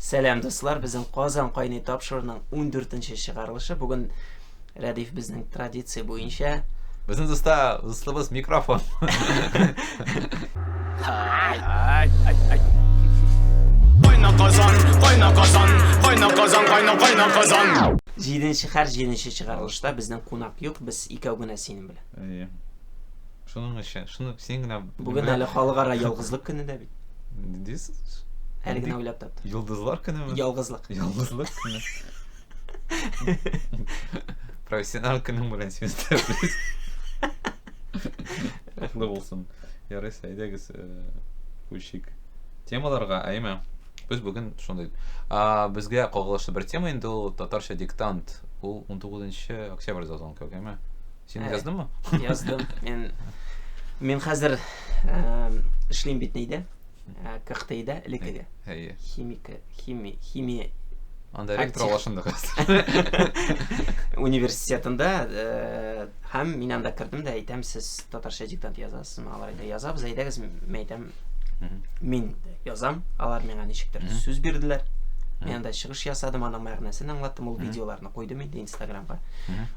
Сәлам дуслар, безнең Казан кайный тапшыруның 14 нче чыгарылышы бүген Рәдиф безнең традиция буенча Безнең дуста дуслыбыз микрофон. Кайна Казан, кайна Казан, кайна Казан, кайна кайна Казан. Җиденче хәр җиденче чыгарылышта безнең кунак юк, без икәү генә синең белән. Шуның өчен, шуны син генә... Бүген әле халыкара ялгызлык көне дә бит. Дис? Әле генә уйлап таптым. Йолдызлар көнеме? Ялгызлык. Ялгызлык көне. Профессионал көнең белән син тәбрис. Кутлы булсын. Ярый, әйдәгез, э, күчик. Темаларга, әйме? Без бүген шундый. А, безгә кагылышлы бер тема инде ул татарча диктант. Ул 19 октябрьдә узган кебек, әйме? Син яздыңмы? Яздым. Мин мин хәзер эшлим бит нидә? КХТИда элеккеге. Әйе. Химика, хими, химия Анда ректор алашында Университетында һәм мин анда кердем дә әйтәм, сез татарча диктант язасыз, алар әйтә, язабыз, әйдәгез, мин әйтәм, мин язам, алар миңа ничектер сүз бирделәр. Мин анда чыгыш ясадым, аның мәгънәсен аңлаттым, ул видеоларны куйдым инде инстаграмга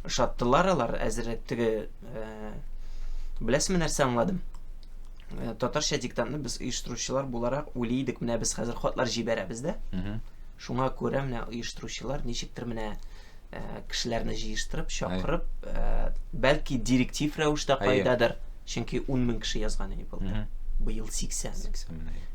ошаттылар алар әзерәк теге э, беләсезме нәрсә аңладым э, татарча диктантны без оештыручылар буларак уйлый идек менә без хәзер хатлар җибәрәбез дә шуңа күрә менә оештыручылар ничектер менә э, кешеләрне җыештырып чакырып бәлки директив рәвештә кайдадыр чөнки ун мең кеше язган иде былтыр быел сиксән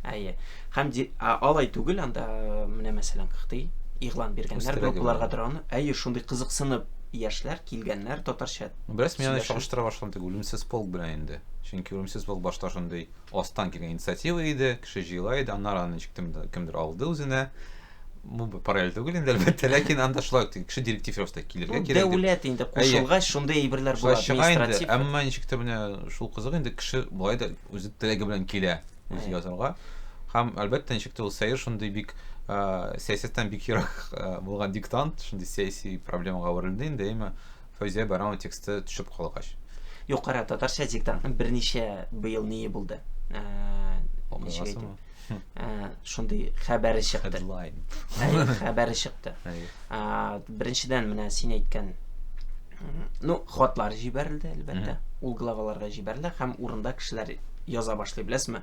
әйе һәм алай түгел анда менә мәсәлән кыхтый игълан биргәннәр группаларга торган әйе шундый кызыксынып яшьләр килгәннәр татарча бераз мин аны чагыштыра башладым үлемсез полк белән инде чөнки үлемсез полк башта шундый астан килгән инициатива иде кеше җыела иде аннары аны ничектер кемдер алды үзенә бу параллель түгел инде әлбәттә ләкин анда шулай ук кеше директив рәвештә килергә ну, кирәк дәүләт инде кушылгач шундый әйберләр була административ әмма ничек тә менә шул кызык инде кеше болай да үзе теләге белән килә үзе язарга һәм әлбәттә ничек тә ул сәер шундый бик сәясәттән бик ерак булган диктант шундый сәяси проблемага әверелде инде әмма Фәүзия Баранова тексты төшеп калгач. Юкара татарча диктантны берничә быел ние булды. Укыгасыңмы? Шундый хәбәре чыкты. Хедлайн. Хәбәре чыкты. Беренчедән менә син әйткән ну, хатлар җибәрелде, әлбәттә. Ул главаларга җибәрелде һәм урында кешеләр яза башлый, беләсезме?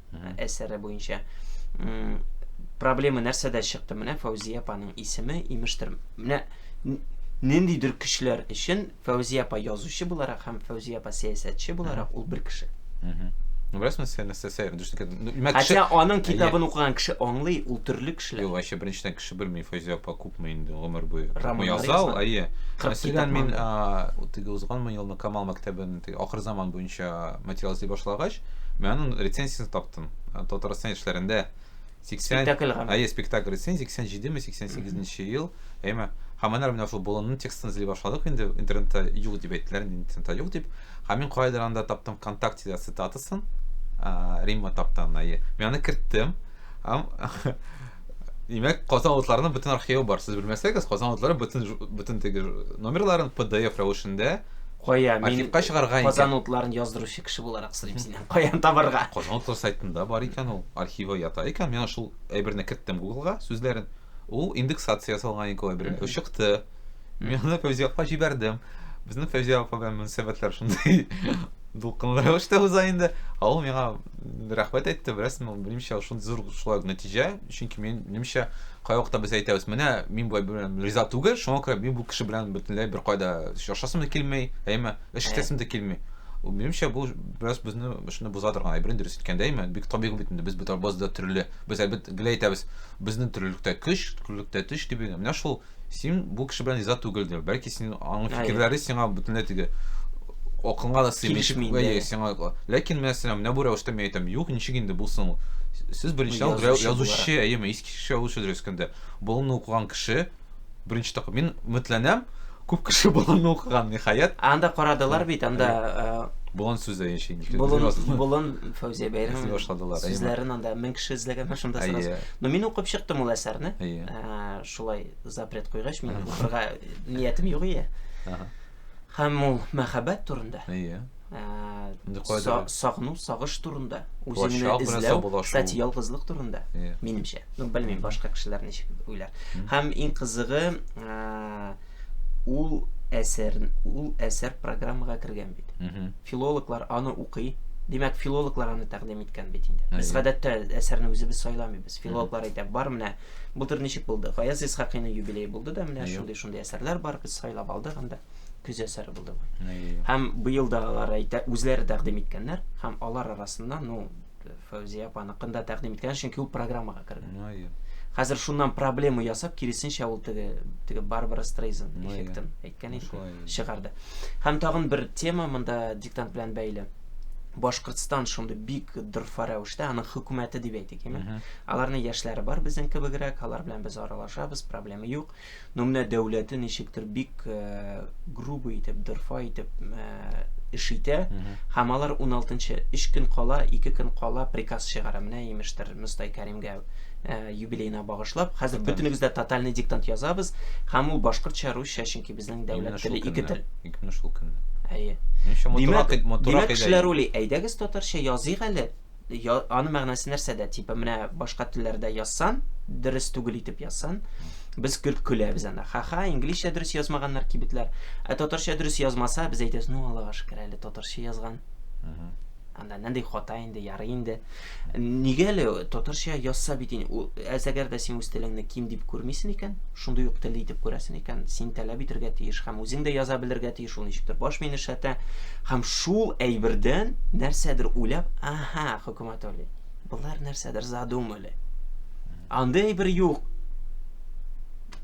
әсәре буенча проблема нәрсәдә чыкты менә фәүзия апаның исеме имештер менә ниндидер көчләр өчен фәүзия апа язучы буларак һәм фәүзия апа сәясәтче буларак ул бер кеше беләсеңме сен нәрсә ну, хотя аның китабын укыган кеше аңлый ул төрле кешеләр юк вообще беренчедән кеше белми фәүзия апа тотмый инде гомер буе. Роман язау, әйе. Мәсәлән, мин теге узганмы елны Камал мәктәбен ахыр заман буенча материал эзли башлагач, мин аның рецензиясен таптым. Татарстан яшьләрендә 80 спектакль гамә. Әйе, спектакль рецензия 87 ме 88 ел. Әйме, һәм менә менә шул болынның текстын эзли башладык инде интернетта юк дип әйттеләр, интернетта юк дип. Һәм мин кайдыр анда таптым ВКонтактеда цитатасын. Римма таптан, әйе. Мин аны керттем. Һәм Димәк, Казан алытларының бөтен архивы бар. Сез белмәсәгез, Казан алытлары бөтен бөтен теге номерларын PDF рәвешендә Кая мин архивка чыгарга икән. Казан алытларын яздыручы кеше буларак сорыйм синнән. Каян табарга? Казан алытлары сайтында бар икән ул. Архивы ята икән. Мин шул әйберне керттем Гуглга, сүзләрен. Ул индексация ясалган икән ул әйберне. Чыкты. Мин аны Фәүзия апа җибәрдем. Безнең Фәүзия апа белән мөнәсәбәтләр шундый дулкынлы рәвештә уза инде. Ә ул миңа рәхмәт әйтте, беләсең, ул минемчә шундый зур шулай ук нәтиҗә, чөнки минемчә кай вакытта без әйтәбез, менә мин болай белән риза түгел, шуңа күрә мин бу кеше белән бөтенләй бер кайда очрашасым да килми, әйме, эш итәсем дә килми. Ул минемчә бу бераз безне шуны боза торган әйбер дөрес иткәндә, әйме, бик табигый бит инде, без бит базда төрле, без әлбәттә гел әйтәбез, безнең төрлелектә көч, төрлелектә төш дип, менә шул Син бу кеше белән риза түгелдер. Бәлки син аның фикерләре сиңа бөтенләй теге акылыңа да сыймый. Сиңа. Ләкин менә сиңа менә бу рәвештә мин әйтәм, юк, ничек инде булсын. Сез беренче язучы, әйеме, иске кеше язучы дөрес көндә. Болынны укыган кеше беренче тапкыр мин үмитләнәм, күп кеше болынны укыган, ниһаять. Анда карадылар бит, анда Болын сүз дә яши. Болын, болын Фәүзия Бәйрәм. Сүзләрен анда мең кеше эзләгән шунда сразу. Но мин укып чыктым ул әсәрне. шулай запрет куйгач, мин укырга ниятем юк ие. Һәм ул мәхәббәт турында. Ие. Сагыну, сагыш турында, үзеңне эзләү, кстати, ялгызлык турында. Минемчә. Ну, белмим, башка кешеләр ничек уйлар. Һәм иң кызыгы, ул әсәр, ул әсәр программага кергән бит. Филологлар аны укый, Димәк, филологлар аны тәкъдим иткән бит инде. Без гадәттә әсәрне үзебез сайламыйбыз. Филологлар әйтә, бар менә Былтыр ничек булды? Гаяз Исхакыйның юбилее булды да, менә шундый шундый әсәрләр бар, без сайлап алдык анда. Көз әсәре булды бу. Һәм быел да алар әйтә, үзләре тәкъдим иткәннәр һәм алар арасында, ну, Фәүзия апаныкын да тәкъдим иткән, чөнки ул программага кергән. Хәзер шуннан проблема ясап, киресенчә ул теге теге Барбара Стрейзен эффектын Мөмкин. Чыгарды. Һәм тагын бер тема монда диктант белән бәйле. Башкортстан шундый бик дорфа рәвештә, аның хөкүмәте дип әйтик, яме. Аларның яшьләре бар безнең кебегрәк, алар белән без аралашабыз, проблема юк. Но менә дәүләте ничектер бик э, грубо итеп, дорфа итеп э, эш итә. Һәм алар 16 өч көн кала, ике көн кала приказ чыгара. Менә имештер Мостай Кәрим юбилеена багышлап, хәзер бөтенебез дә тотальный диктант язабыз, һәм ул башкортча, русча, чөнки безнең дәүләт теле ике тел. Именно шул көнне. Әйе. Димәк, димәк кешеләр уйлый, әйдәгез татарча языйк әле. Аны мәгънәсе нәрсәдә? Типа менә башка телләрдә язсан, дөрес түгел итеп язсан, без көлт көләбез анда. Ха-ха, инглизчә дөрес язмаганнар кибетләр. Ә татарча дөрес язмаса, без әйтәбез, ну, Аллага шөкер әле татарча язган. Анда нәндәй хата инде, ярый инде. Нигә әле татарча язса бит инде. Әз әгәр дә син үз телеңне ким дип күрмисен икән, шундый ук телле итеп күрәсен икән, син таләп итергә тиеш һәм үзең дә яза белергә тиеш ул ничектер. Баш мени шәтә һәм шул әйбердән нәрсәдер уйлап, аһа, хөкүмәт али. Болар нәрсәдер задумали. Андый әйбер юк.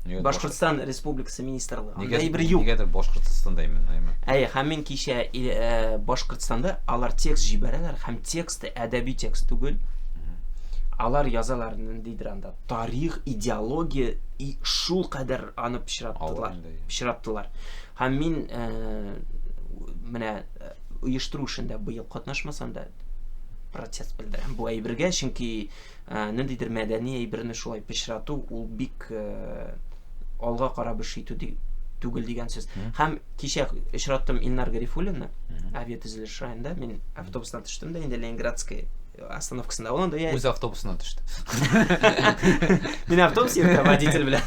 Нигә Башкортстан Республикасы министрлыгы. Анда Нигә- әйбер юк. Нигәдер Башкортстанда именно, именно. Әйе, һәм мин кичә и- э, Башкортстанда алар текст җибәрәләр һәм тексты әдәби текст түгел. Алар язалар ниндидер анда тарих, идеология и шул кадәр аны Алар пычраттылар. инде, иә. Пычраттылар. Һәм мин э, менә э, оештыру эшендә быел катнашмасам да протест белдерәм бу әйбергә, чөнки Ә, ниндидер мәдәни әйберне шулай пычрату, ул бик ә, алга карап эш итү ди, түгел дигән сүз. Һәм кичә очраттым Илнар Гарифуллинны, авиатөзелеш районында, мин автобустан төштем дә инде Ленинградская остановкасында ул анда үз автобусына төште мин автобус йөртә водитель белән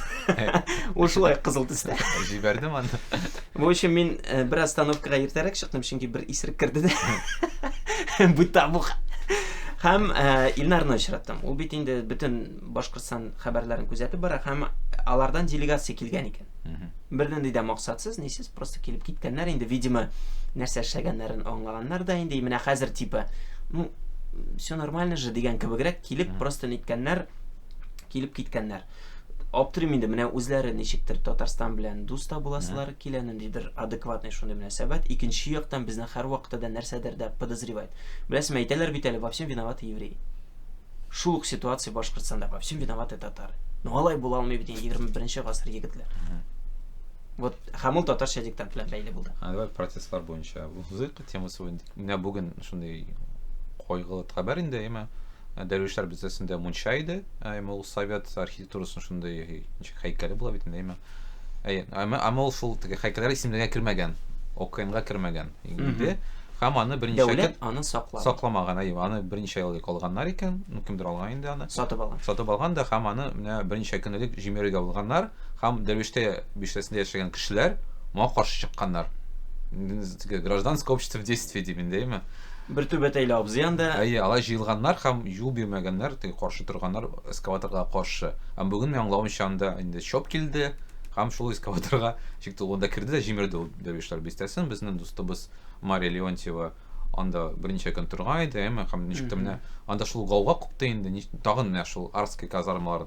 ул шулай кызыл төстә җибәрдем аны В общем, мин э, бер остановкага иртәрәк чыктым, чөнки бер исерек керде дә. Бу табух. Һәм э, Илнарны очраттым. Ул бит инде бөтен Башкортстан хәбәрләрен күзәтеп бара һәм алардан делегация килгән икән. Бернинди дә максатсыз, нисез, просто килеп киткәннәр инде, видимо, нәрсә эшләгәннәрен аңлаганнар да инде, менә хәзер типа, ну, все нормально же дигән кебегрәк килеп, просто ниткәннәр, килеп киткәннәр. Аптырыйм инде, менә үзләре ничектер Татарстан белән дус та буласылары килә, ниндидер адекватный шундый мөнәсәбәт. Икенче яктан безне һәрвакытта да нәрсәдер дә подозревать. Беләсеңме, әйтәләр бит әле, во всем виноваты евреи. Шул ук ситуация Башкортстанда, во всем виноваты татары. Ну алай була алмый бит инде 21 гасыр егетләр. Вот һәм ул татарча диктант белән бәйле булды. Аңгар протестлар буенча. Узыйк темасы буенча. Менә бүген шундый кайгылы хәбәр инде, әйме? Дәрвишләр бистәсендә мунча иде, әйме ул совет архитектурасының шундый ничек һәйкәле була бит инде, әйме? Әй, әмма әмма ул шул теге һәйкәлләр исемлегенә кермәгән, ОКНга кермәгән инде. Һәм аны берничә көн Дәүләт аны саклаган. сакламаган, әйе, аны берничә ел элек алганнар икән, ну кемдер алган инде аны. Сатып алган. Сатып алган да һәм аны менә берничә көн элек җимерергә булганнар һәм Дәрвиштә биштәсендә яшәгән кешеләр моңа каршы чыкканнар. М, Теге гражданское общество в действии дип инде, әйеме? Бер түбәтәйле абзый анда. Әйе, алай җыелганнар һәм юл бирмәгәннәр, теге каршы торганнар эскаваторга каршы. Һәм бүген, мин аңлавымча, анда инде ЧОП килде һәм шул эскаваторга чыкты. Ул анда керде дә җимерде ул Дәрвишләр бистәсен. Безнең дустыбыз Мария Леонтьева анда берничә көн торган иде, әйеме? Һәм ничек тә менә анда шул гауга купты инде, тагын менә шул Арские казармалар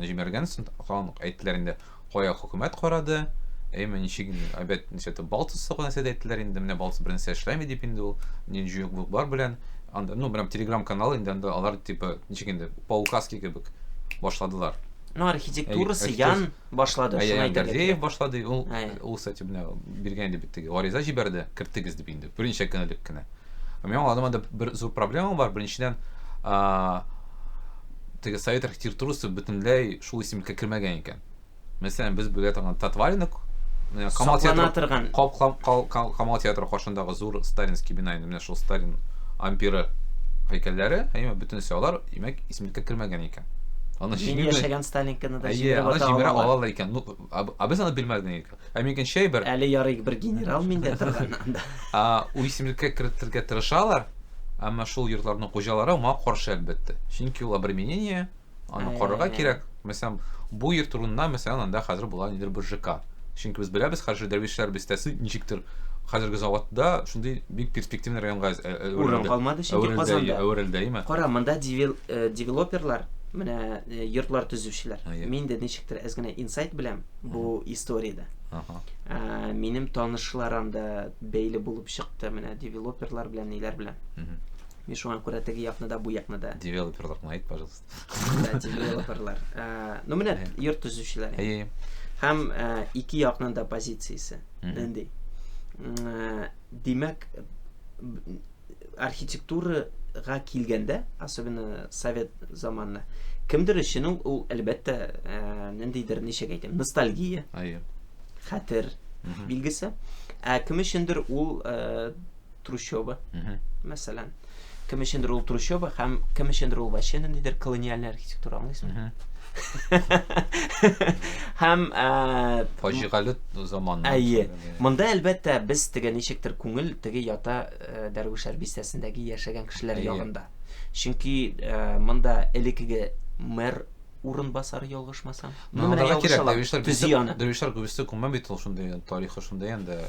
җимергәнсең, тагын әйттеләр инде. Кая хөкүмәт карады? Әйме, ничек инде, әйбәт нәрсә тә Балтус саклаган нәрсә дә әйттеләр инде, менә Балтус бер нәрсә эшләми дип инде ул, ни җуек бук бар белән, анда, ну, прям телеграм канал инде анда алар типа, ничек инде, по указке кебек башладылар. Ну, архитектурасы ян башлады, шуны әйтергә кирәк. Гордеев башлады, ул, ул, кстати, менә биргән иде бит теге, гариза җибәрде, кертегез дип инде, берничә көн элек кенә. Мин аңладым, анда бер зур проблема бар, беренчедән, теге совет архитектурасы бөтенләй Шул исемлеккә кермәгән икән. Мәсәлән, без белә торган Татваринок, менә Камал театры, торган... Камал театры каршындагы зур Сталинский бина, инде менә шул Сталин ампиры һәйкәлләре, әйе, бөтенесе алар, димәк, исемлеккә кермәгән икән. Аны җиңел яшәгән Сталинканы да җиңел ата ала. Аны алалар икән. Ну, а без аны белмәгән икән. Ә микән чәй бер. Әле ярый бер генерал миндә торганнан да. А у исемлеккә кертергә тырышалар, әмма шул йортларның хуҗалары моңа каршы әлбәттә. Чөнки ул обременение, Аны Ә. карарга кирәк. Мәсәлән, бу йорт урынына, мәсәлән, анда хәзер була нидер бер ЖК. Чөнки без беләбез, хәзер Дәрвишләр бистәсе ничектер хәзерге заводта шундый бик перспективный районга әз- ә- әверелде. Урын калмады, чөнки Әверелде, Казанда. әверелде, әйме? Кара, монда девел- э, девелоперлар, менә э, йортлар төзүчеләр. Әйе. Мин дә ничектер әз генә инсайт беләм бу историядә. Аха. Ә, минем танышлар анда бәйле булып чыкты, менә девелоперлар белән, ниләр белән. Мгм. Мин шуңа күрә теге якны да, бу якны да. Девелоперлар гына әйт, пожалуйста. Да, девелоперлар. Э, ну менә йорт төзүчеләр. Әйе. Һәм э, ике якның да позициясе. Нинди? Э, димәк, архитектурага килгәндә, особенно совет заманына, кемдер өчен ул, әлбәттә, ниндидер, ничек әйтәм, ностальгия. Әйе. Хәтер билгесе. Ә кем өчендер ул трущоба, мәсәлән. Кем өчендер ул трущоба һәм кем өчендер ул вообще ниндидер колониальный архитектура, аңлыйсыңмы? Һәм фаҗигале заман. Әйе. Монда әлбәттә без теге ничектер күңел теге ята Дәрвишәр бистәсендәге яшәгән кешеләр ягында. Чөнки монда элекеге мэр урынбасары ялгышмасам. Ну, менә ялгыша ла. Төзи аны. Дөрвишләр күбесе күмә бит ул шундый тарихы шундый инде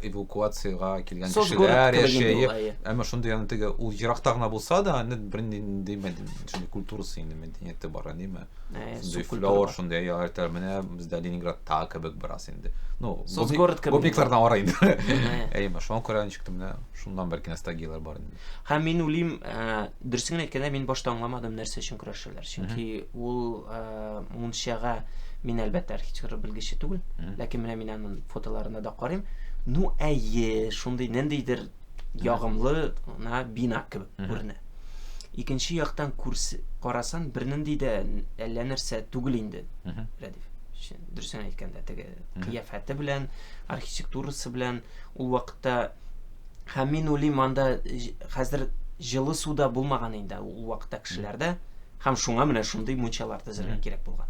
эвакуациягә килгән кешеләр яшәеп, әмма шундый аны теге ул еракта гына булса да, аны бернинди мәдәни культурасы инде мәдәнияте бар, әйеме? Шундый флор, шундый яратар менә бездә Ленинградта кебек бераз инде. Ну, город кебек. Гопниклардан ара инде. Әйеме, шуңа күрә ничек тә менә шуннан бәлки ностальгияләр бар инде. Һәм мин үлим, Дөресен генә әйткәндә, мин башта аңламадым, нәрсә өчен көрәшәләр. Чөнки ул э, мунчага мин әлбәттә архитектур белгече түгел, ләкин менә мин аның фотоларына да карыйм. Ну, әйе, шундый ниндидер ягымлы на бина кебек күренә. Икенче яктан күрс карасан бернинди дә әллә нәрсә түгел инде. Рәдиф. Дөресен әйткәндә, теге кыяфәте белән, архитектурасы белән ул вакытта Һәм мин уйлыйм, анда хәзер җылы су да булмаган инде ул вакытта кешеләрдә. Һәм шуңа менә шундый мунчалар төзергә кирәк булган.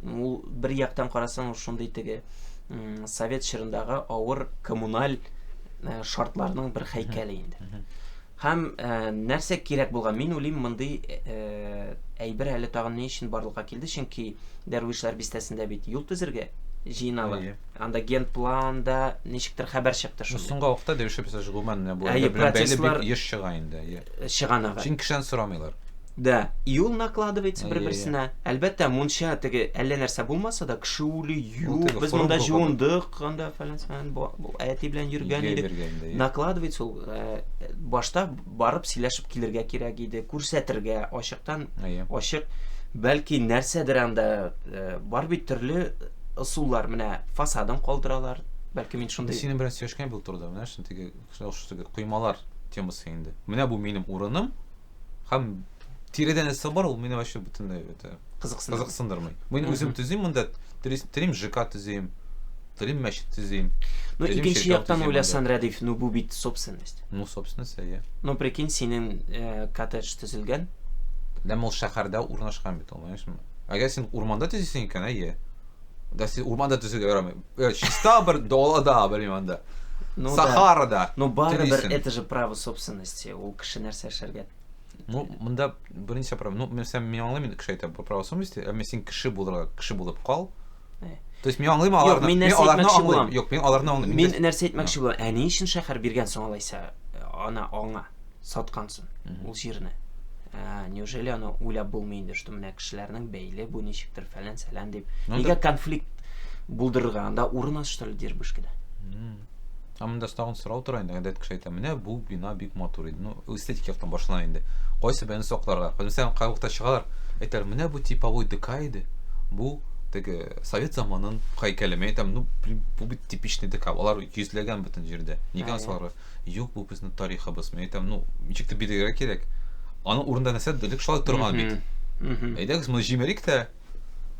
Ул бер яктан карасаң, шундый теге совет чорындагы авыр коммуналь э, шартларның бер һәйкәле инде. Һәм нәрсә кирәк булган? Мин уйлыйм, мондый әйбер әле тагын ни өчен барлыкка килде, чөнки Дәрвишләр бистәсендә бит юл төзергә җыеналар. Әйе. Анда генпланда ничектер хәбәр чыкты шул. Соңгы вакытта Дәрвишләр бистәсе гомумән менә бу Әйе, әйбер белән бәйле процесслар- бик еш чыга инде. Әйе. Чыганагы. Чөнки кешедән сорамыйлар. Да, юл накладывается Әйе, бер-берсенә. Әлбәттә, мунча теге әллә нәрсә булмаса да, кеше үлү Ул юк. теге Без форум монда куркады. җуындык, анда фәлән-фәлән бу- бу әти белән йөргән Йә идек. йөргән, да, йә. Накладывается ул башта барып сөйләшеп килергә кирәк иде, күрсәтергә, ачыктан ачык. Бәлки нәрсәдер анда э, бар бит төрле ысуллар, менә фасадын калдыралар. Бәлки мин шундый. Синең белән сөйләшкән бил турыда, менә шундый теге шундый теге коймалар темасы инде. Менә бу минем урыным, Һәм тиредән эссе бар, ул мине вообще бөтенләй это кызыксындырмый. Кызыксындырмый. Мин үзем төзим монда, телим ЖК төзим, телим мәчет төзим. Ну, икенче яктан уйласан, Рәдиф, ну бу бит собственность. Ну, собственность, әйе. Ну, прикинь, синең э, коттедж төзелгән. Ләм ул шәһәрдә урнашкан бит, аңлаешмы? Әгәр син урманда төзисең икән, әйе. Да син урманда төзергә ярамый. Э, чиста бер далада, белмим анда. Ну, Сахарада. Да. Ну, бары бер это же право собственности. Ул кеше нәрсә эшләргә Ну, монда берничә проблема. Ну, мен сәм мин аңлыйм инде кеше әйтә, по правосу мисте, әмма син кеше булырга, кеше булып кал. Э. То есть мин аңлыйм аларны. Мин нәрсә әйтмәкче булам? Юк, мин аларны аңлыйм. Мин нәрсә әйтмәкче булам? Ә ни өчен шәһәр биргән соң алайса э, ана аңа саткансын ул җирне? Э, неужели аны уйлап булмый инде, что менә кешеләрнең бәйле бу ничектер фәлән сәлән дип. Ну, Нигә конфликт булдырырга? Анда урын аз что ли Дербышкида? Ә монда тагын сорау тора инде, гадәт кеше әйтә, менә бу бина бик матур иде. Ну, эстетик яктан башлана инде. Кайсы бәяне сакларга? Мәсәлән, кай вакытта чыгалар, әйтәләр, менә бу типовой ДК иде. Бу теге совет заманын һәйкәле. Мин әйтәм, ну, блин, бу бит типичный ДК. Алар йөзләгән бөтен җирдә. Нигә саларга? Юк, бу безнең тарихыбыз. Мин әйтәм, ну, ничек тә бирергә кирәк. Аның урында нәрсә дөрек шулай торган бит. Әйдәгез, моны җимерик тә,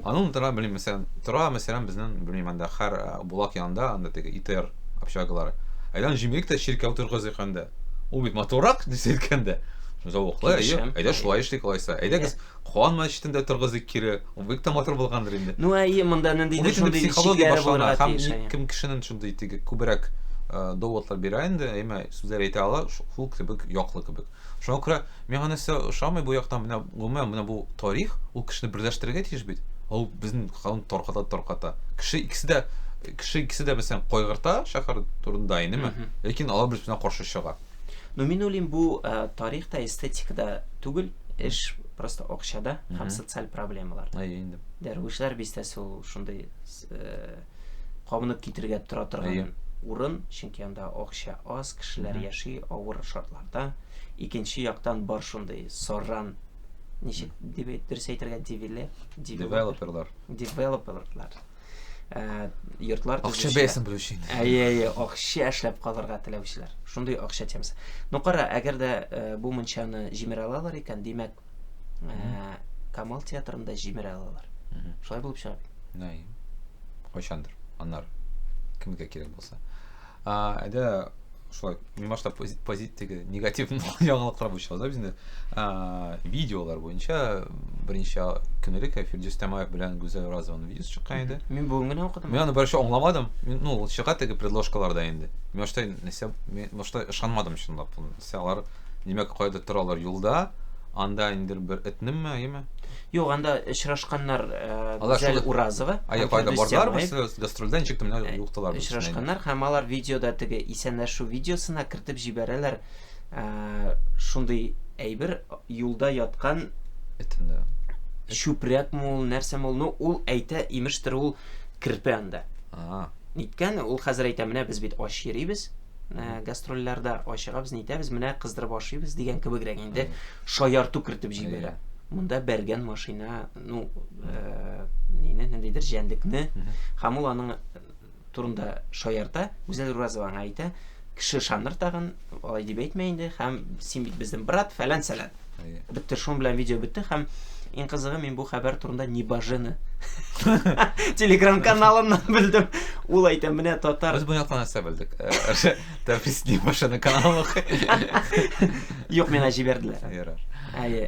Анын тора белмим мәсәлән, тора мәсәлән безнен белмим анда хәр булак янында анда теге ИТР общагалары. Әйдән җимлек тә чиркәү торгызыйк анда. Ул бит матурак дисә иткәндә. Зәвыклы, әйе. Әйдә шулай эшлик алайса. Әйдәгез Куан мәчетендә торгызыйк кире. Ул бик тә матур булгандыр инде. Ну әйе, монда ниндидер шундый психология булырга тиеш. Һәм кем кешенең шундый теге күбрәк доводлар бирә инде, әмма сүзләр әйтә ала, шул кебек яклы кебек. Шуңа күрә миңа нәрсә ошамый бу яктан, менә гомумән менә бу тарих, ул кешене берләштерергә тиеш бит. Ул безнең халыкны тарката тарката. Кеше икесе дә кеше икесе дә мәсәлән кайгырта шәһәр турында инеме, ләкин алар бер берсенә каршы чыга. Ну мин уйлыйм, бу э, тарих та, эстетика да түгел, эш просто акчада һәм социаль проблемалар. Әйе инде. Дәрвишләр бистәсе ул шундый э, кабынып китергә тора торган урын, чөнки анда акча аз, кешеләр яши авыр шартларда. Икенче яктан бар шундый сарран ничек дип дөрес әйтергә дивиле девелоперлар девелоперлар э, йортлар акча бәясен белү өчен әйе әйе акча эшләп калырга теләүчеләр шундый акча темасы ну кара әгәр дә э, бу мунчаны җимерә алалар икән димәк ә, камал театрында җимерә алалар шулай булып чыга бит кайчандыр анар кемгә кирәк булса әдә шулай мин башта позитивтеге негатив яңалыклар буенча узабыз инде видеолар буенча беренче көнелек эфирде өстәмаев белән гүзәл разованың видеосы чыккан иде мин бүген генә укыдым мин аны беренче аңламадым ну ул чыга теге предлошкаларда инде мин башта нәрсә мин башта ышанмадым чынлап нәрсә алар Димәк, кайдыр торалар юлда, анда инде бер этнеме, әйеме? Юк, анда очрашканнар э, Гүзәл Уразова. Ай, кайда бардылар без гастрольдә ничек тә э, юктылар без. Очрашканнар һәм алар видеода теге исәнләшү видеосына кертеп җибәрәләр. Э, шундый әйбер юлда яткан этендә. Чүпрәк мул, нәрсә мул, ну ул әйтә, имештер ул керпе анда. Ага. Ниткән, ул хәзер әйтә, менә без бит ач йөрибез. ә, гастрольләрдә ачыгабыз, нитәбез, менә кыздырып ашыйбыз дигән кебегрәк инде шаярту кертеп җибәрә. Монда бәргән машина, ну, ә, нинди ниндидер җәндекне, һәм ул аның турында шаярта, Гүзәл Уразова аңа әйтә, кеше ышаныр тагын, алай дип әйтмә инде, һәм син бит безнең брат, фәлән-сәлән. Бетте, шуның белән видео бетте һәм Иң кызыгы мин бу хәбәр турында Небожены телеграм-каналыннан белдем. Ул әйтә, менә татар. Без буяткан нәрсә белдек. Тәфис Небожены каналы. Юк, мені җибәрделәр. Ярар. Әйе.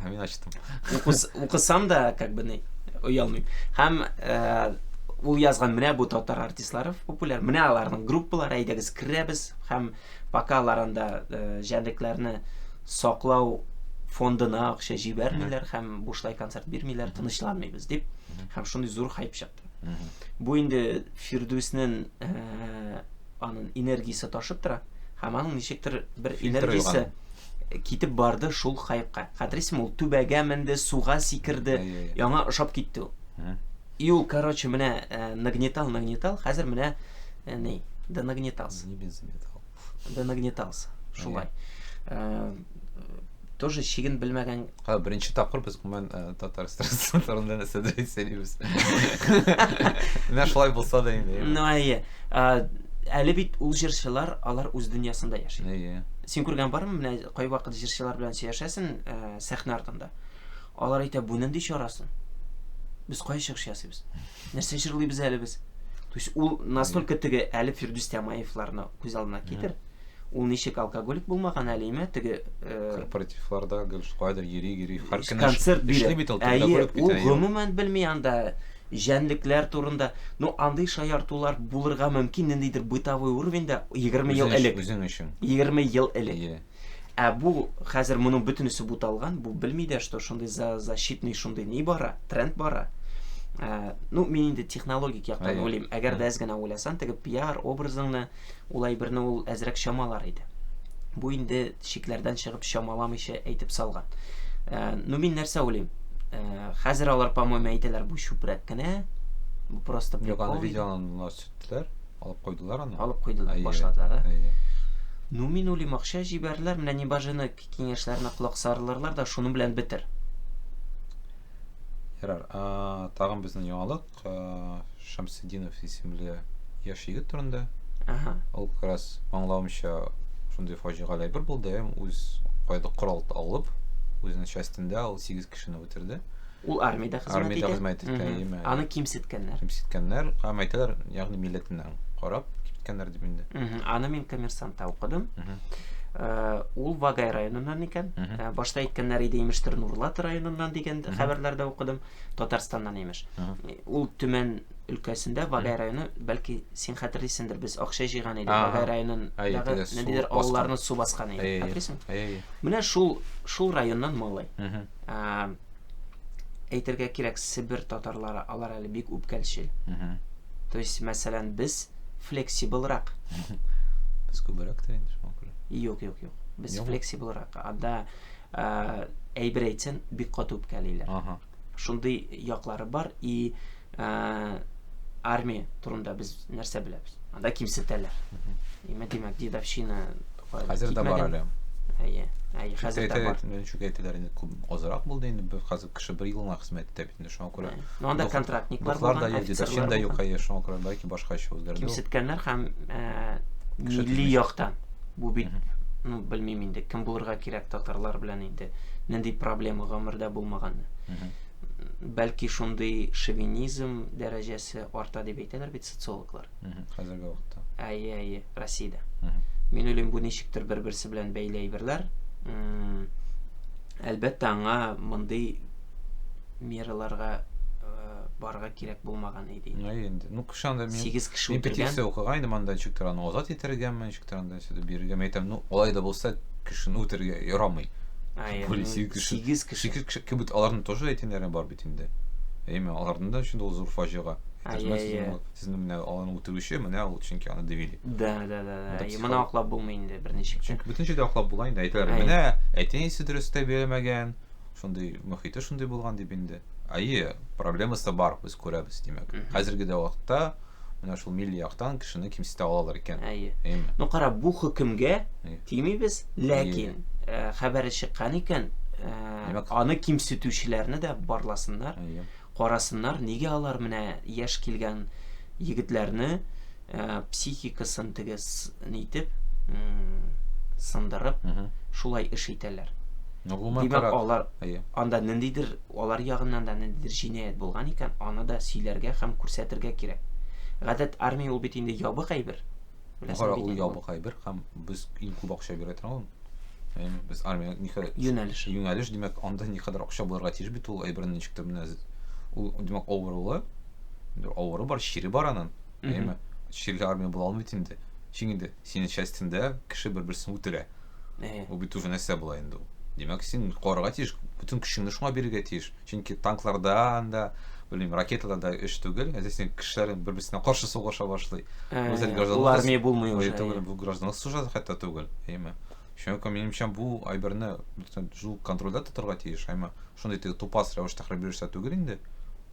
Һәм мин ачтым. Укысам да, как бы, не, оялмыйм. Һәм ул язган менә бу татар артистлары популяр. Менә аларның группалары, әйдәгез керәбез һәм Пока алар анда җәнлекләрне саклау фондына акча җибәрмиләр һәм бушлай концерт бирмиләр, тынычланмыйбыз дип, һәм шундый зур хайп чыкты. Бу инде Фирдүснең аның энергиясе ташып тора, һәм аның ничектер бер энергиясе китеп барды шул хайпка. Хәтерсең, ул түбәгә менде, суга сикерде, яңа ошап китте ул. И ул короче менә нагнетал нагнетал хәзер менә ни да нагнетался не без метал да нагнетался шулай тоже чиген белмәгән ха беренче тапкыр без гомумән татар стороны нәрсә дә сөйлибез менә шулай булса да инде ну әйе әле бит ул җырчылар алар үз дөньясында яши әйе син күргән бармы менә кайвакыт җырчылар белән сөйләшәсең сәхнә артында Алар әйтә, бу нинди чара соң? Без кая чыгыш ясыйбыз? Нәрсә җырлыйбыз әле без? То есть ул настолько теге әле Фирдүс Тямаевларны күз алдына китер. Ул ничек алкоголик булмаган әле име теге э, корпоративларда гел кайдыр йөри йөри һәр көн концерт бирә. бит ул алкоголик бит. Ул гомумән белми анда җәнлекләр турында. Ну андый шаяртулар булырга мөмкин ниндидер бытовой уровеньда 20 ел элек. Үзең өчен. 20 ел элек. Ә бу хәзер моның бөтенесе буталган, бу белми дә, что шундый за защитный шундый ни бара, тренд бара. Ә, ну, мин инде технологик яктан Әйе. уйлыйм. Әгәр дә әз генә уйласаң, теге пиар образыңны ул әйберне ул әзрәк чамалар иде. Бу инде шикләрдән чыгып чамаламыйча әйтеп салган. Ә, ну, мин нәрсә уйлыйм? Ә, хәзер алар, по-моему, әйтәләр, бу чүпрәк кенә, бу просто Юк, аны прикол иде. видеоны сөрттеләр. Алып куйдылар аны? Алып куйдылар, әйе, башладылар. Ә? Әйе. Ну, мин уйлыйм, акча җибәрделәр, менә не бажены киңәшләренә колак сарылырлар да, шуның белән бетер. Ярар, тагын безнең яңалык, Шамсетдинов исемле яшь егет турында. Ага. Ул как раз аңлавымча шундый фаҗигале әйбер булды, үз кайда корал алып, үзенең частендә ул 8 кешене үтерде. Ул армиядә хезмәт армиядә итә. хезмәт итә, яме. Аны кимсеткәннәр. Кимсеткәннәр, һәм әйтәләр, ягъни милләтеннән карап кимсеткәннәр дип инде. Аны мин коммерсантта укыдым. Э, ул Вагай районыннан икән. Э, башта әйткәннәр иде, имештер, Нурлат районыннан дигән хәбәрләрдә укыдым. Татарстаннан имеш. Ул Төмән өлкәсендә Вагай районы, бәлки син хәтерлисеңдер, без акча җыйган идек Вагай районындагы ниндидер авылларны су баскан иде, хәтерлисеңме? Менә шул шул районнан малай. әйтергә кирәк, Себер татарлары, алар әле бик үпкәлчел. То есть, мәсәлән, без флексиблрак. Без күбрәк тә инде шуңа күрә. Юк, юк, юк. Без флексиблрак. Анда әйбер әйтсәң, бик каты үпкәлиләр. Ага. Шундый яклары бар и ә, армия турында без нәрсә беләбез? Анда кимсетәләр. Имә димәк, дедовщина хәзер дә бар әле. Әйе. Әйе, хәзер дә бар. Чүкә әйтәләр инде күп азрак булды инде. Бер хәзер кеше бер елына хезмәт итә бит инде шуңа күрә. Ну анда контрактниклар булган, да юк, дедовщина да юк, әйе, шуңа күрә лайки башка эш үзгәрде. Кимсеткәннәр һәм э, милли яктан бу бит ну белмим инде кем булырга кирәк татарлар белән инде нинди проблема гомердә булмаган бәлки шундый шовинизм дәрәҗәсе арта дип әйтәләр бит социологлар. Хәзерге вакытта. Әйе, әйе, Россиядә. Мин уйлыйм, бу ничектер бер-берсе белән бәйле әйберләр. Әлбәттә, аңа мондый мераларга барга кирәк булмаган иде. Әйе инде. Ну, кеше анда мин 8 кеше үтергән. Петиция укыган идем анда ничектер аны азат итәргәме, Трандан сөтеп бирергә мин әйтәм, ну, алай да булса, кешене үтерергә ярамый. Әйе. Более ну, сигез кеше. Сигез кеше. Сигез кеше кебек аларның тоже әйтеннәре бар бит инде. Әйме, аларның да өчен дә ул зур фаҗига. Әйе, әйе. Сезнең менә аларны үтерүче, менә ул чөнки аны дивили. Да, да, да, да. Әйе, моны аклап булмый инде берничек. Чөнки бөтен җирдә аклап була инде әйтәләр. Менә әтәнисе дөрес тәрбияләмәгән, шундый мөхите шундый булган дип инде. Әйе, проблемасы бар, без күрәбез, димәк. Хәзерге дә вакытта Менә шул милли яктан кешене кимсетә алалар икән. Әйе. Әйме. Ну кара, бу хөкемгә тимибез, ләкин э, хәбәре чыккан икән, э, аны кимсетүчеләрне дә барласыннар. Әйе. Карасыннар, нигә алар менә яшь килгән егетләрне э, психикасын тегез нитеп, сындырып, шулай эш итәләр. Ну, гомумән, Димәк, алар анда ниндидер Алар ягыннан да ниндидер җинаять булган икән, аны да сөйләргә һәм күрсәтергә кирәк. Гадәт, армия ул бит инде ябык әйбер. Беләсең бит инде. Ул ябык әйбер һәм без иң күп акча бирә торган. Әйме, без армия никадәр юнәлеш. Юнәлеш, димәк, анда никадәр акча булырга тиеш бит ул әйберне ничектер менә ул, димәк, авырулы. Авыры бар, чире бар аның. Әйме? Ширле армия була алмый инде. Чик инде, синең частендә кеше бер-берсен үтерә. Ул бит уже нәрсә була инде ул. Димәк, син корырга тиеш, бөтен көчеңне шуңа бирергә тиеш. Чөнки танкларда анда, белмим, ракеталар да эш түгел. Әзер син кешеләр бер-берсенә каршы сугыша башлый. Үзәл граждан. Ул армия булмый уже. Түгел, бу гражданлык сужат хәтта түгел. Әйме? Шуңа күрә минемчә бу айберне шул контрольдә тотарга тиеш, әйме? Шундый тупас рәвештә хәрби эшләр түгел инде.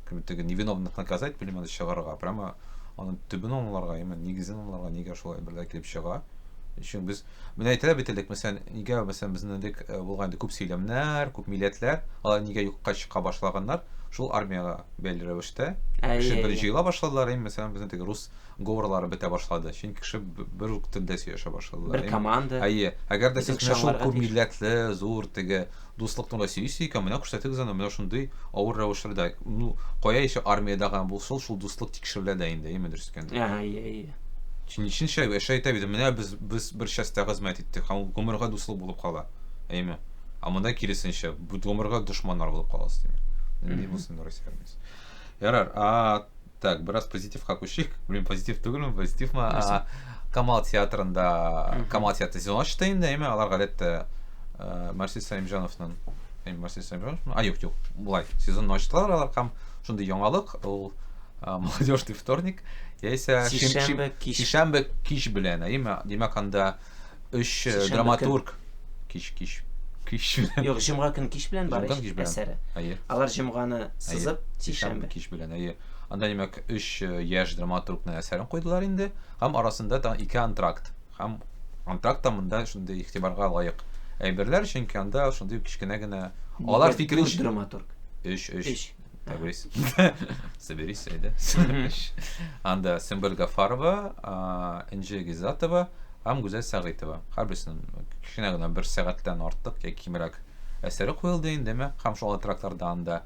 Кем теге невиновных наказать, белмим аны чыгарырга, прямо аның төбен аңларга, яме нигезен аңларга, нигә шулай әйберләр килеп чыга. Өчен без менә әйтәләр бит элек, мәсәлән, нигә мәсәлән безнең элек э, булган инде күп сөйләмнәр, күп милләтләр, алар нигә юкка чыга башлаганнар? Шул армиягә бәйле рәвештә. Кеше бер җыела башладылар, яме мәсәлән, безнең теге рус говорлары бетә башлады. Чөнки кеше бер үк телдә сөйләшә башлады. Бер команда. Әйе. Әгәр дә сез менә шул күп милләтле, зур теге дуслык турында сөйлисез икән, менә күрсәтегез аны, менә шундый авыр рәвешләрдә. Ну, кая иши армиядә гына булсын, шул дуслык тикшерелә дә инде, әйеме дөрес икән? Әйе, әйе. Чинчинчә яшә әйтә бит, менә без без бер частьтә хезмәт иттек, һәм ул гомергә дуслык булып кала. Әйеме? Ә монда киресенчә, гомергә дошманнар булып каласыз. Нинди булсын Россия армиясе. Ярар, а Так, бераз позитивка күчик. Блин, позитив түгелме, позитив ма? А, Камал театрында, Мгм. Камал театры сезон ачты инде, әйме, алар гадәттә э, Марсис Саимҗановның, әйме, Марсис Саимҗанов, а юк, юк, булай, сезон ачтылар алар, һәм шундый яңалык, ул э, молодежный вторник, яисә шим- шим- Сишәмбе кич. шишәмбе кич белән, әйме, димәк анда Өч э, Сишәмбе драматург кич кич кич белән. Юк, җомга көн кич белән бар Җомга кич белән. әсәре. Әйе. Алар җомганы сызып, сишәмбе. кич белән. Әйе. Анда димәк өч э, яшь драматургның әсәрен куйдылар инде. Һәм арасында тагын ике антракт. Һәм антракт та монда шундый игътибарга лаек әйберләр, чөнки анда шундый кечкенә генә алар Нигә дүрт фикеренчә драматург. өч өч Өч. так белесең соберись әйдә анда сөмбел гафарова энҗе гизатова һәм гүзәл сәгыйтова һәрберсенең кечкенә генә бер сәгатьтән артык яки кимрәк әсәре куелды инде мә һәм шул тракларда анда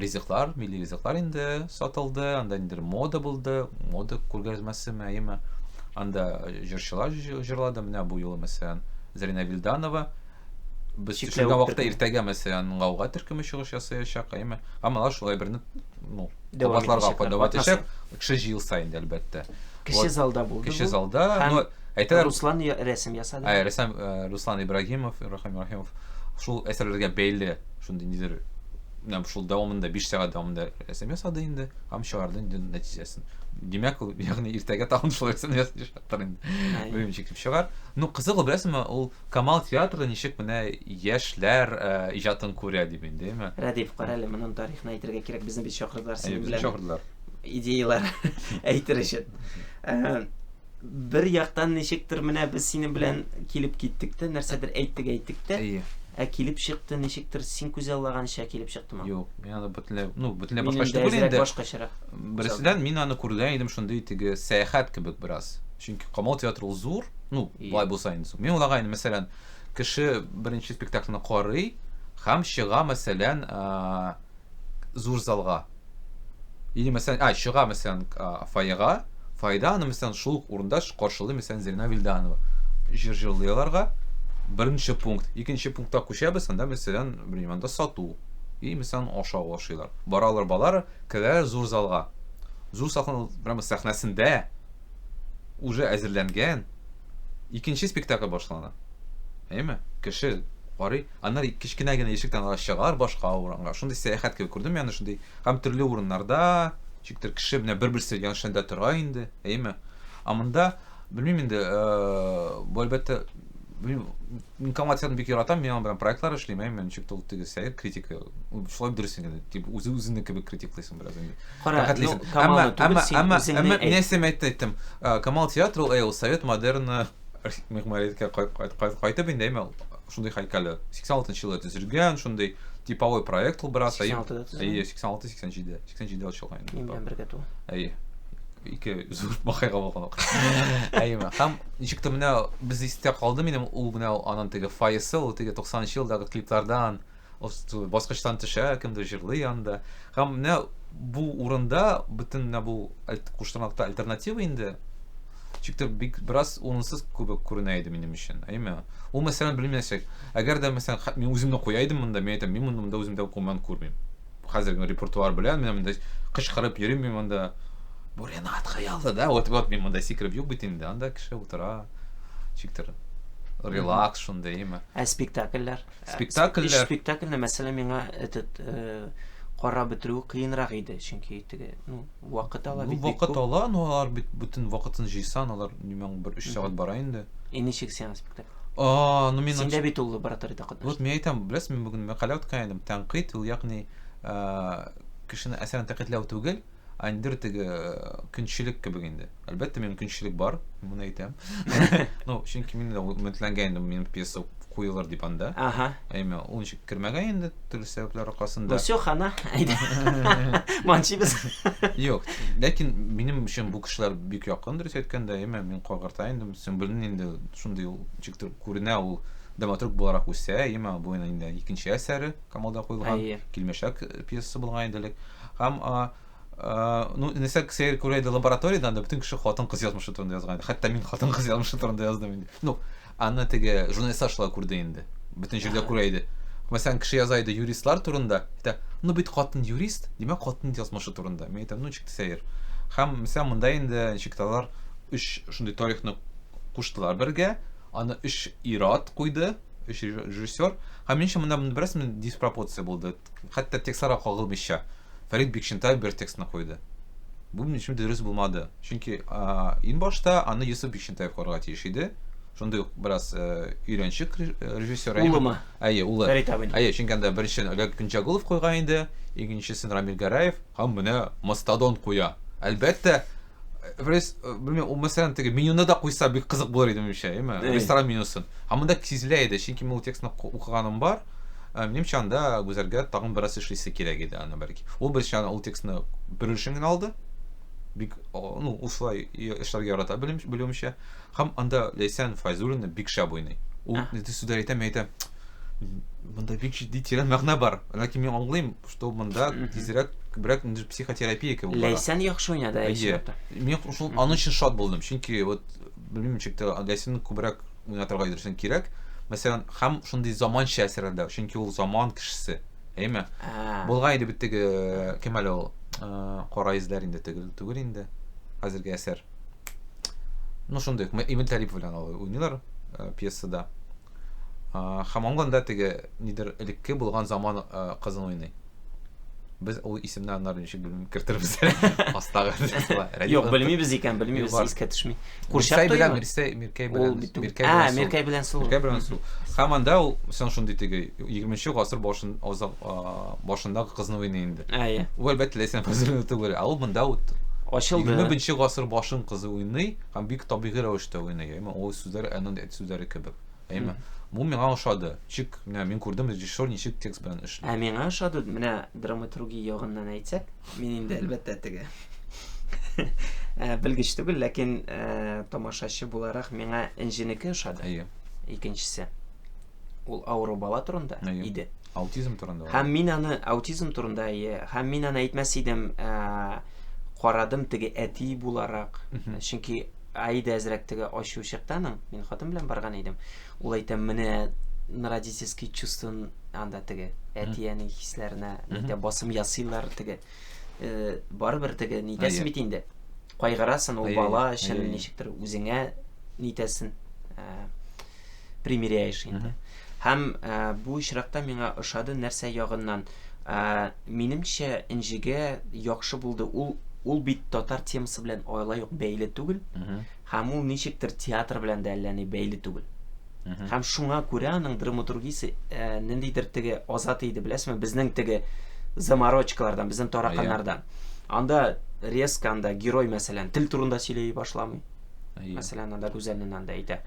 ризыклар милли ризыклар инде сатылды анда инде мода булды мода күргәзмәсеме әйеме анда җырчылар җырлады менә бу юлы мәсәлән зарина вилданова Без Чикләвек төшергән вакытта төркеме. иртәгә мәсәлән гауга төркеме чыгыш ясаячак, әйме? Гамала шулай берне ну, Дәвам кабатларга итәчәк, кадәр катнаша. итәчәк. Кеше җыел саен, әлбәттә. Кече Вот, залда булды Кече бу. залда, Һәм но әйтәләр, Руслан я- рәсем ясады. Ә, рәссам э, Руслан Ибрагимов, Рахим Ибрагимов, шул әсәрләргә бәйле шундый нидер, менә шул дәвамында, биш сәгать дәвамында рәсем ясады инде, һәм чыгарды инде нәтиҗәсен. Димәк, ул, ягъни иртәгә тагын шул рәсемне ясаячактыр инде. Әйе. Белмим, ничек дип чыгар. Ну, кызык ул, беләсеңме, ул Камал театры ничек менә яшьләр иҗатын күрә дип инде, әйме? Рәдиф, карале, монын тарихын әйтергә кирәк, безне бит чакырдылар синең белән. Әйе, безне чакырдылар. Идеялар әйтер өчен. Бер яктан ничектер менә без синең белән килеп киттек тә, нәрсәдер әйттек, әйттек тә. Әйе. Ә килеп чыкты, ничектер син күзаллаганча килеп чыктымы? Юк, мин аны бөтенләй, ну, бөтенләй башкача түгел инде. Мин башкачарак. Берседән мин аны күргән идем шундый теге сәяхәт кебек бераз. Чөнки Камал театры ул зур, ну, Болай булса инде соң. Мин уйлаган, мәсәлән, кеше беренче спектакльне карый һәм чыга, мәсәлән, зур залга. Или, мәсәлән, а, чыга, мәсәлән, фойега, фойеда аны, мәсәлән, шул ук урында каршылый, мәсәлән, Зелена Вильданова. Җыр җырлый аларга. Беренче пункт. Икенче пунктка күчәбез, анда, мәсәлән, белмим, анда сату. И, мәсәлән, ашау ашыйлар. Баралар, балар, керәләр зур залга. Зур сахна, прямо сәхнәсендә уже әзерләнгән икенче спектакль башлана. Әйме? Кеше карый. Аннары кечкенә генә ишектән алар чыгалар башка урынга. Шундый сәяхәт кебек күрдем яны шундый. Һәм төрле урыннарда, чиктер кеше менә бер-берсе яншында тора инде. Әйме? Ә монда белмим инде, э, бу әлбәттә информацияны бик яратам, мин аның белән проектлар эшлим, әйме, ничек тул тигез сәер критика. Шулай дөресен генә, дип үзе-үзенең кебек критиклыйсың. Бераз инде. Кара, Рәхәтлисең. ну, Камалны Әмма түгел, әмма син әмма үзеңне әмма әйт. мин нәрсә әйтте әйттем. Э, Камал театры ул әй, ул совет модерны мехмәриткә кай- кай- кай- кайтып инде әйме ул шундый һәйкәле. 86 елда төзелгән, шундый типовой проект ул бераз. әй- 86 да төзелгән? Әйе, 86 87. 87 ачылган инде. Мин белән бергә ту. Әйе. Ике зур бакыйга булган. Әйеме. Һәм ничек тә менә без истә калды минем ул менә ул аның теге фойесы, ул теге 90 нчы елдагы клиплардан Озту баскычтан төшә, кемдер җырлый анда. Һәм менә бу урында бөтен менә бу куштырнакта альтернатива инде Чикте бик бераз урынсыз күбек күренә иде минем өчен. Әйме? Ул мәсәлән белмәсәк, әгәр дә мәсәлән мин үземне куя идем монда, мин әйтәм, мин монда монда үземдә куман күрмим. Хәзер генә репертуар белән мин монда кычкырып йөрим мин монда. Бу Ренат Хаялы, да? Вот вот мин монда сикреп юк бит инде, анда кеше утыра. Чиктер. Релакс шунда, әйме? Ә спектакльләр? Спектакльләр. Биш спектакльне, мәсәлән, миңа этот карап бетерү кыенрак иде, чөнки теге, ну, вакыт ала бит. Вакыт ала, но алар бит бүтән вакытын җыйсан, алар димәң бер 3 сәгать бара инде. И ничек сиңа спектакль? А, ну мин Синдә бит ул лабораториядә катнашты. Вот мин әйтәм, беләсез, мин бүген мәкалә үткән идем, тәнкыйть ул ягъни кешене әсәрен тәнкыйтьләү түгел, Андер теге көнчелек кебек инде. Әлбәттә, минем көнчелек бар, моны әйтәм. Ну, чөнки мин дә өметләнгән идем, минем пьеса куелыр дип анда. Ага. Әмма ул ничек кергән инде, төрле сәбәпләр аркасында. Ну, все, хана. Манчибез. Юк, ләкин минем өчен бу кешеләр бик якын, дөрес әйткәндә, әмма мин кагырта инде, Сөмбелнең инде шундый ул ничектер күренә ул драматург буларак үсә, әмма бу инде икенче әсәре Камалда куелган, Килмешәк пьесасы булган иде элек. Һәм а, а, ну, нәрсә сәер күрә иде лабораториядә, анда бөтен кеше хатын-кыз язмышы турында язган иде. Хәтта мин хатын-кыз язмышы турында яздым инде. Ну, аны теге журналистлар шулай күрде инде. Бөтен җирдә күрә иде. Мәсәлән, кеше яза иде юристлар турында, әйтә, ну бит хатын юрист, димәк хатын язмышы турында. Мин әйтәм, ну ничек сәер. Һәм мәсәлән, монда инде ничек тә алар өч шундый тарихны куштылар бергә, аны өч ир-ат куйды, өч режиссер. Һәм минемчә, монда бераз диспропорция булды. Хәтта текстларга кагылмыйча, Фәрит Бикчентаев бер текстны куйды. Бу минем өчен дөрес булмады. Чөнки иң башта аны Йосыф Бикчентаев куярга тиеш иде. Шундый ук бераз өйрәнчек режиссер. Улымы? Әйе, улы. Фәрит абыйның. Әйе, чөнки анда беренче Олег Гөнҗагулов куйган иде, икенчесен Рамил Гәрәев, һәм менә Мастодон куя. Әлбәттә, Рес, э, белмим, ул мәсәлән теге менюны да куйса бик кызык булыр иде минемчә, яме? Әй. Ресторан менюсын. Һәм монда сизелә иде, чөнки мин ул текстны ку- укыганым бар. Ә, Минемчә анда Гүзәлгә тагын бераз эшлисе кирәк иде аны бәлки. Ул беренче аны ул текстны бер өлешен генә алды. Бик, о, ну, ул шулай я- эшләргә ярата белем, белүемчә. Һәм анда Ләйсән Файзуллина бик шәп уйный. Ул Ага. нидер сүзләр әйтә, мин әйтәм, монда бик җитди тирән мәгънә бар. Ләкин мин аңлыйм, Тол монда тизрәк күбрәк инде психотерапия кебек бара. Ләйсән яхшы уйнады әле чынлыкта. Мин шул аның өчен шат булдым, чөнки вот белмим ничек тә Ләйсәнне күбрәк уйнатырга өйрәтсен кирәк. Мәсәлән, һәм шундый заманча әсәрләрдә, чөнки ул заман кешесе. Әйме? Булган иде бит теге кем әле ул? Кара изләр инде түгел, түгел инде. Хәзерге әсәр. Ну шундый, Эмиль Талипов белән ул уйныйлар пьесада. Хамамга анда теге нидер элекке булган заман кызын уйный. Без ул исемне аннары ничек белмим кертербез. Астагы. Юк, белмибез икән, белмибез, искә төшми. Курчак туйга Миркәй Миркәй белән Миркәй белән. А, Миркәй белән сул. Миркәй белән сул. Хам анда ул сон шундый теге 20-нче гасыр башын озак башындагы кызны уйный инде. Әйе. Ул әлбәттә ләйсән кызын түгел, а ул монда ут. Ачылды. 20-нче гасыр башын кызы уйный, һәм бик табигый рәвештә уйный. Ул сүзләр аннан сүзләре кебек. Әйме? Бу миңа ошады. Чик, менә мин күрдем режиссер ничек текст белән эшли. Ә миңа ошады, менә драматургия ягыннан әйтсәк, мин инде әлбәттә теге э, белгеч түгел, ләкин э, тамашачы буларак миңа Энҗенеке ошады. Әйе. Икенчесе. Ул авыру бала турында Әйе. иде. Аутизм турында. Һәм мин аны аутизм турында әйе, һәм мин аны әйтмәс идем, ә, карадым теге әти буларак, чөнки Аида әзрәк теге ачу чыкты аның. Мин хатын белән барган идем. Ул әйтә, менә родительский чувство анда теге әти-әни хисләренә нидә басым ясыйлар теге. Э, барыбер теге нитәсен бит инде. Кайгырасын ул бала өчен ничектер үзеңә нитәсен. Э, примеряешь инде. Һәм ә, бу очракта миңа ошады нәрсә ягыннан. Ә, минемчә, Энҗегә яхшы булды. Ул ул бит татар темасы белән алай ук бәйле түгел. Һәм ул ничектер театр белән дә әллә ни бәйле түгел. Һәм шуңа күрә аның драматургиясе ә, ниндидер теге азат иде, беләсезме? Безнең теге заморочкалардан, безнең тараканнардан. Анда резко анда герой мәсәлән тел турында сөйләй башламый. Әйе. Мәсәлән, анда Гүзәлнен анда әйтә.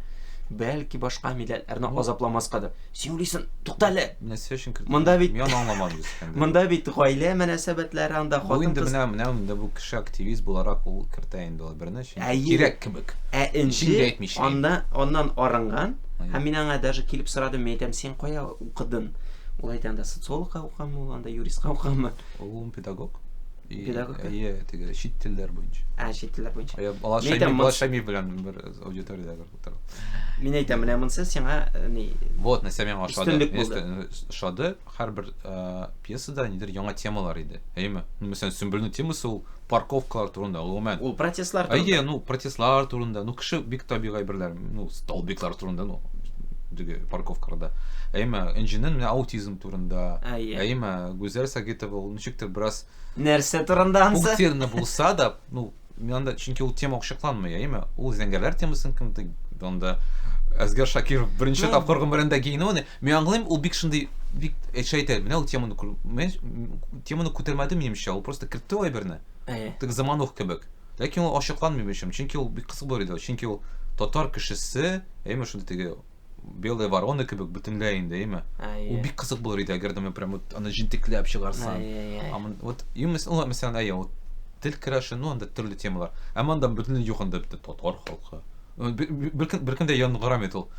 Бәлки башка милләтләрне азапламаскадыр. Син уйлыйсың, тукта әле. Нәрсә өчен кертә? Монда бит Мин аңламадым искәндә. Монда бит гаилә мөнәсәбәтләре анда хатын. Бу инде менә менә инде бу кеше активист буларак ул кертә инде ул берне өчен. Кирәк кебек. Ә инде анда аннан арынган. Һәм мин аңа даже килеп сорадым, мин әйтәм, син кая укыдың? Ул әйтә, анда социологка укыган, ул анда юристка укыган. Ул педагог. Педагогка? Әйе, теге чит телләр буенча. Ә, чит телләр буенча. Әйе, Бала Шәймиев, Бала Шәймиев белән бер аудиториядә утырып. Мин әйтәм, менә монсы сиңа э, ни? Вот, нәрсә миңа ошады. Өстенлек булды. Ошады, һәрбер э, пьесада нидер яңа темалар иде. Әйеме? Ну, мәсәлән, Сөмбелнең темасы ул парковкалар турында, гомумән. Ул протестлар турында. Әйе, ну, протестлар турында, ну, кеше бик табигый берләр, ну, столбиклар турында, ну, теге парковкаларда. Әйеме, Энҗинен менә аутизм турында. Ә, иә. Әйе ма? Гүзәл Сагитова ул ничектер бераз Нәрсә турында ансы? Пунктирны булса да, ну, анда чөнки ул тема ачыкланмый, әйе ма? Ул зәңгәрләр темасын кемдер анда Әзгәр Шакиров беренче ну, тапкыр гомерендә гейнуны. Мин аңлыйм, ул бик шундый бик әчә әйтә, менә ул теманы теманы күтәрмәде минемчә, ул просто кертте ул әйберне. Әйе. Тик заманух кебек. Ләкин ул ачыкланмый бишем, чөнки ул бик кысык булыр иде, чөнки ул татар кешесе, әйе ма шундый теге Белые вороны кебек бөтенләй инде, әйме? Ул бик кызык булыр иде, әгәр дә мен прям вот аны җентекләп чыгарсаң. А мен вот именно ну, мәсәлән, әйе, вот тел керәше, ну, анда төрле темалар. Ә монда бөтенләй юк анда бит татар халкы. Бер кем дә янгырам ит ул.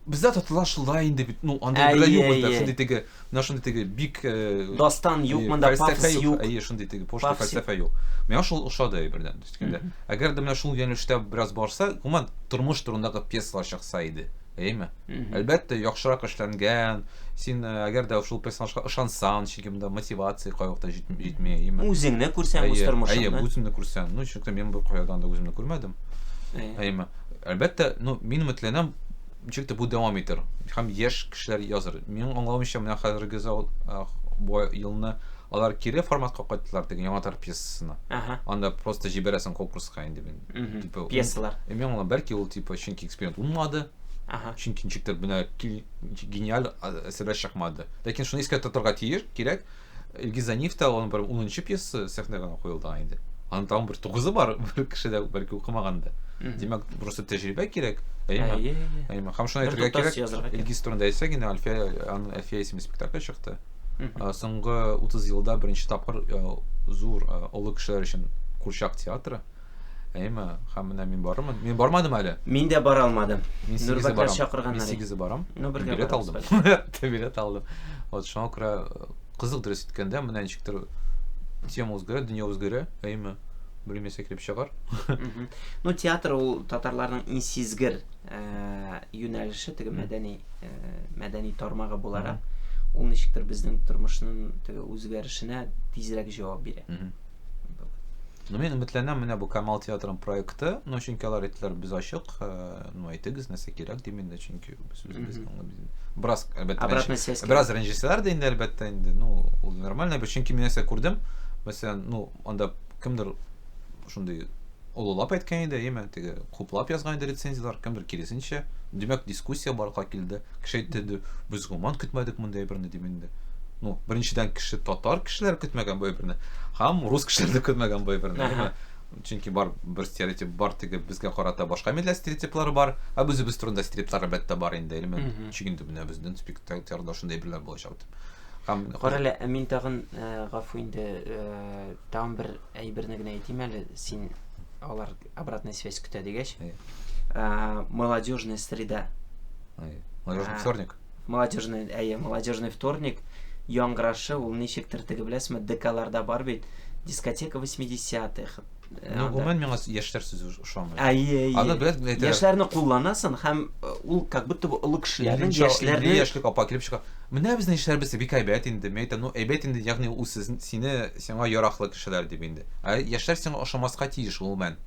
Бездә татарлар шулай инде бит, ну, анда бер юк инде, шундый теге Менә шундый теге бик Дастан юк монда, пафос юк. Әйе, шундый теге пошлый фәлсәфә юк. Миңа шул ошады әйбердән. Дискәндә. Әгәр дә менә шул юнәлештә бераз барса, гомумән тормыш турындагы пьесалар чыкса иде. Әйеме? Әлбәттә, яхшырак эшләнгән. Син әгәр дә шул персонажга ышансаң, чөнки монда мотивация кайвакта җитми, әйеме? Үзеңне күрсәң үз тормышыңны. Әйе, үзеңне күрсәң. Ну, чөнки мин бу кайдан да үземне күрмәдем. Әйеме? Әлбәттә, ну, мин өметләнәм, Ничек тә бу дәвам итәр һәм яшь кешеләр языр. Минем аңлавымча, менә хәзерге зал бу елны алар кире форматка кайттылар теге яңа тар пьесасына. Ага. Анда просто җибәрәсең конкурска инде мин. Типа пьесалар. Мин аңлам, бәлки ул типа чөнки эксперимент булмады. Ага. Чөнки ничектер менә гениаль әсәрләр чыкмады. Ләкин шуны искә тотарга тиеш, кирәк. Илгиз Заниф та аның бер 10 пьесасы сәхнәгә куелдыган инде. Аның тагын бер тугызы бар, бер кеше дә бәлки укымаган да. Димәк, просто тәҗрибә кирәк. Әйе. Әйе. Һәм шуны әйтергә кирәк. Илгиз турында әйтсәк, инде Альфия, аның Альфия исемле спектакль чыкты. Соңгы 30 елда беренче тапкыр зур олы кешеләр өчен курчак театры Әйме, хәм менә мин барырмын. Мин бармадым әле. Мин дә бара алмадым. Мин сигезе барам. Чакырганнар. Мин сигезе барам. Ну, бергә билет алдым. билет алдым. Вот шуңа күрә э, кызык дөрес иткәндә, менә ничектер тема үзгәрә, дөнья үзгәрә. Әйме, белмәсә килеп чыгар. Ну, театр ул татарларның иң сизгер э, юнәлеше, теге мәдәни э, мәдәни тармагы буларак, ул ничектер безнең тормышның теге үзгәрешенә тизрәк җавап бирә. Ну, мин өметләнәм менә бу Камал театрының проекты. Ну, чөнки алар әйттеләр, без ачык. Э, ну, әйтегез, нәрсә кирәк дим инде, чөнки без үзебез бераз әлбәттә обратная связь бераз рәнҗесәләр дә инде әлбәттә инде. Ну, ул нормально, бер чөнки мин нәрсә күрдем. Мәсәлән, ну, анда кемдер шундый олылап әйткән иде, яме теге хуплап язган иде рецензияләр, кемдер киресенчә. Димәк, дискуссия барлыкка килде. Кеше әйтте инде, без гомумән көтмәдек мондый әйберне дип инде. Ну, беренчедән кеше татар кешеләр көтмәгән бу әйберне, һәм рус кешеләр дә көтмәгән бу әйберне, яме. Чөнки бар бер стереотип бар, теге безгә карата башка милләт стереотиплары бар, һәм үзебез турында стереотиплар әлбәттә бар инде, яме ничек инде менә безнең спектакльләрдә шундый әйберләр булачак дип. Һәм Кара әле, ә мин тагын, гафу инде, тагын бер Әйберне генә әйтим әле, син алар обратная связь көтә дигәч. Молодежная среда. Молодежный вторник. Молодежный, әйе, молодежный вторник яңгырашы ул ничектер теге беләсезме, ДКларда бар бит, дискотека 80-х. Э, ну, гомумән миңа яшьләр сүзе ошамый. Әйе, әйе. Аны белән әйтәләр. Яшьләрне кулланасың һәм э, ул как будто бы олы кешеләрнең яшьләрне яшьлек апа килеп чыга. Менә безнең яшьләребез бик әйбәт инде. Мен әйтәм, ну әйбәт инде, ягъни ул сине Сиңа яраклы кешеләр дип инде. Ә яшьләр сиңа ошамаска тиеш, гомумән.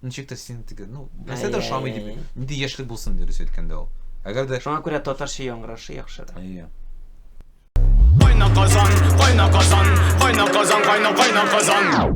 Ничек тә син теге, ну, нәрсә дә ошамый дип, нинди яшьлек булсын, дөрес әйткәндә ул. Әгәр дә Шуңа күрә татарча яңгырашы яхшырак. Әйе. Кайна Казан, кайна Казан, кайна Казан, кайна, кайна Казан.